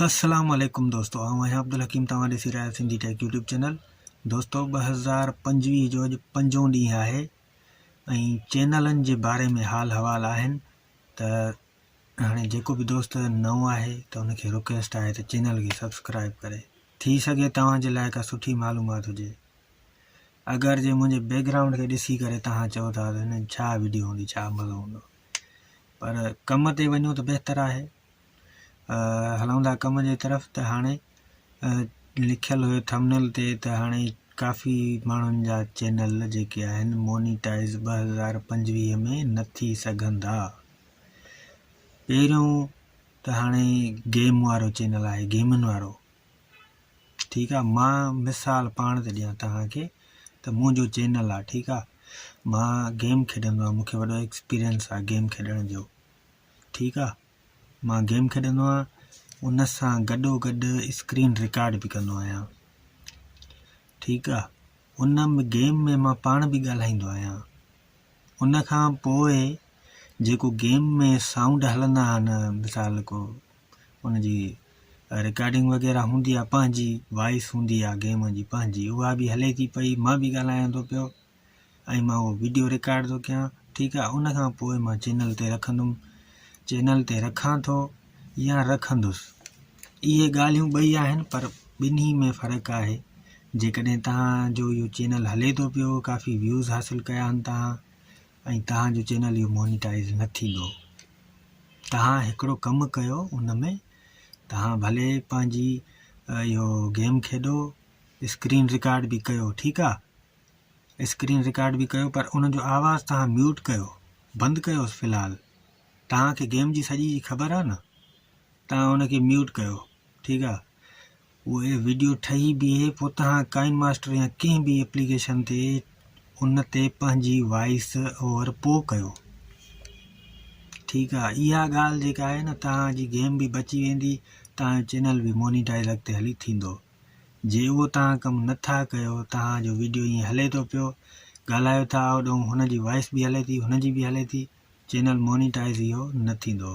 السلام عليڪم دوستو آئون آهيان عبدالحڪيم توهان ڏسي رهيا آهيو سنڌي ٽيڪ يوٽيوب چينل دوستو ٻه هزار پنجويهه جو اڄ پنجون ڏينهن آهي ۽ چينلن جي باري ۾ حال حوال آهن ته هاڻي جيڪو به دوست نئون آهي ته ان کي رڪويسٽ آهي ته چينل کي سبسڪرائب ڪري ٿي سگهي توهان جي لاء ڪا سٺي معلومات هجي اگر جي منهنجي بيڪگرائونڊ کي ڏسي ڪري توهان چئو ٿا ته هن ڇا ويڊيو هوندي ڇا مزو هوندو پر ڪم تي وڃو ته بهتر آهي. هلون ٿا ڪم جي طرف ته هاڻي لکيل هيو ٿمنل تي ته هاڻي ڪافي ماڻهن جا چينل جيڪي آهن مونيٽائز ٻه هزار پنجويهه ۾ نه ٿي سگهندا پهريون ته هاڻي گيم وارو چينل آهي گيمن وارو ٺيڪ آ مان مثال پاڻ ٿي ڏيان توهان کي ته منهنجو چينل آ ٺيڪ آ مان گيم کيڏندو آهيان مونکي وڏو ايڪسپيرينس آ گيم کيڏڻ جو ٺيڪ آ مان گيم کيڏندو آهيان ان سان گڏو گڏ اسڪرين رڪارڊ به ڪندو آهيان ٺيڪ آ ان گيم ۾ مان پاڻ به ڳالهائيندو آهيان ان کان پوء جيڪو گيم ۾ سائونڊ هلندا آهن مثال ڪو ان جي رڪارڊنگ وغيره هوندي آ پنهنجي وائس هوندي آ گيم جي پنهنجي اها به هلي ٿي پئي مان به ڳالهايان ٿو پيو ۽ مان اهو ويڊيو رڪارڊ ٿو ڪيان ٺيڪ آ ان کان پوء مان چينل تي رکندم چينل تي رکان ٿو يا رکندس اهي ڳالهيون ٻئي آهن پر ٻنهي ۾ فرق آهي جيڪڏهن تهان جو اهو چينل هلي ٿو پيو ڪافي ويوز حاصل ڪيا آهن تهان ۽ توهان جو چينل اهو مونيٽائيز نه ٿيندو توهان هڪڙو ڪم ڪيو ان ۾ توهان ڀلي پنهنجي اهو گيم کيڏو اسڪرين رڪارڊ به ڪيو ٺيڪ آ اسڪرين رڪارڊ به ڪيو پر ان جو آواز توهان ميوٽ ڪيو بند ڪيو في الحال توهان کي گيم جي سڄي خبر آ نه توهان ان کي ميوٽ ڪيو ٺيڪ آ اهي وڊيو ٺهي بيهي پوء توهان ڪائن ماسٽر يا ڪنهن به اپليڪيشن تي ان تي پنهنجي وائيس اوور پو ڪيو ٺيڪ آ اها ڳالهه جيڪا آهي نه توهان جي گيم به بچي ويندي توهان جو چينل به مونيٽائز اڳتي هلي ٿيندو جي اهو توهان ڪم نٿا ڪيو توهان جو وڊيو ائين هلي ٿو پيو ڳالهايو ٿا اوڏون هن جي وائيس به هلي ٿي هن جي به هلي ٿي چينل مونيٽائز اهو نه ٿيندو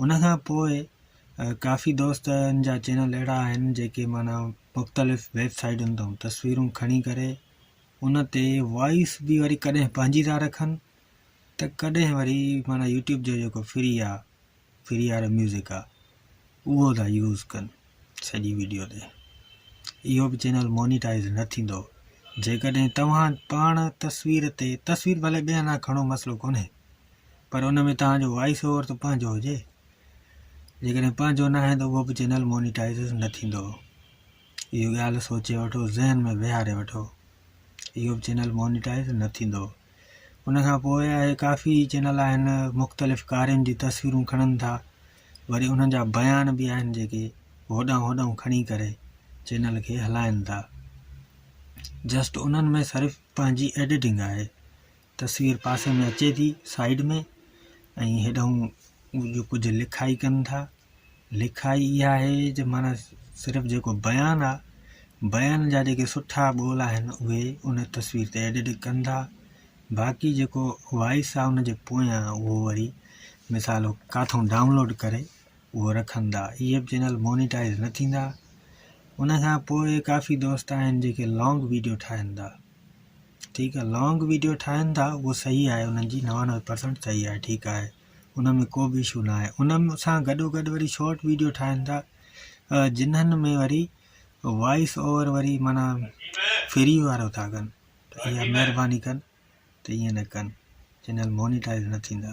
ان کان پوء ڪافي دوستن جا چينل اهڙا آهن جيڪي معنيٰ مختلف ويب سائيٽن تان تصويرون کڻي ڪري ان تي وائس بي وري ڪڏهن پنهنجي ٿا رکن ته ڪڏهن وري معنيٰ يوٽيوب جو جيڪو فري آ فري وارو ميوزڪ آ اهو ٿا يوز ڪن سڄي ويڊيو تي اهو به چينل مونيٽائز نه ٿيندو جيڪڏهن توهان پاڻ تصوير تي تصوير ڀلي ٻيا نه کڻو مسئلو ڪونهي پر ان ۾ توهان جو وائيس اوور ته پنهنجو هجي جيڪڏهن پنهنجو نه آهي ته اهو به چينل مونيٽائز نه ٿيندو اهو ڳالهه سوچي وٺو ذهن ۾ ويهاري وٺو اهو به چينل مونيٽائز نه ٿيندو ان کان پوء آهي ڪافي چينل آهن مختلف ڪارين جون تصويرون کڻن ٿا وري انهن جا بيان به آهن جيڪي هوڏانهن هوڏانهن کڻي ڪري چينل کي هلائن ٿا جسٽ انهن ۾ صرف پنهنجي ايڊيٽنگ آهي تصوير پاسي ۾ اچي ٿي سائيڊ ۾ ۽ هيڏانهن جو ڪجهه لکائي ڪن ٿا لکائي اها آهي جو معنيٰ صرف جيڪو بيان آهي بيان جا جيڪي سٺا ٻول آهن اهي ان تصوير تي ايڊٽ ڪن ٿا باقي جيڪو وائس آهي ان جي پويان اهو وري مثال ڪاٿو ڊائونلوڊ ڪري اهو رکن ٿا اهي به چينل مونيٽائز نه ٿيندا ان کان پوء ڪافي دوست آهن جيڪي لانگ ويڊيو ٺاهن ٿا ٺيڪ آ لانگ ويڊيو ٺاهن ٿا اهو صحيح آهي انهن جي نوانوي پرسنٽ صحيح آهي ٺيڪ آهي ان ۾ ڪو به اشو ناهي ان سان گڏو گڏ وري شارٽ ويڊيو ٺاهن ٿا جنهن ۾ وري وائس اوور وري مانا فري وارو ٿا ڪن اها مهرباني ڪن ته ائين نه ڪن چينل مونيٽائز نه ٿيندا